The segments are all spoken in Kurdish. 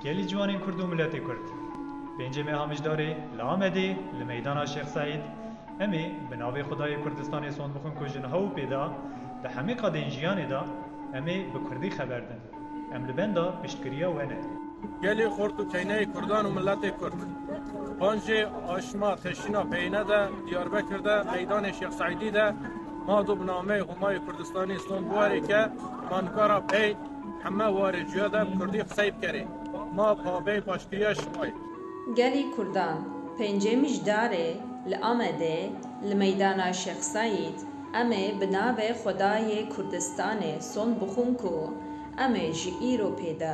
Gelî ciwanên Kurd û miletê Kurd. Pêncê me a mijdarê li Amedê li meydana Şêx Seîd, em ê bi navê Xwedayê Kurdistanê sond bixwin ku ji niha û pê de di hemî qadên jiyanê de em ê bi Kurdî xeber din. Em li benda piştgiriya we ne. Gelî xort û keyneyê Kurdan û miletê Kurd. Panjê aşma teşîna peyine de Diyarbekir de meydanê Şêx Seîdî de Ma do bi nameyê Homayê Kurdistanê ston biwarê ke ma nikara pey heme warê cuya de bi kurdî qisey bikerê. Ma pabey paşgiriya şima yê. Gelê Kurdan, pêncê Mijdarê li Amedê li meydana Şêx Seîd, Em ê bi navê Xwedayê Kurdistanê son bixwin ku em ê ji îro pê de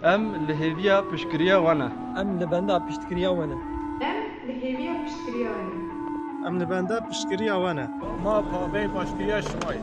Em li hêviya piştgiriya we ne. Em li benda piştgiriya we ne. Em li hêviya piştgiriya we ne. Em li benda piştgiriya we ne. Ma pavê baştgiriya şima ye.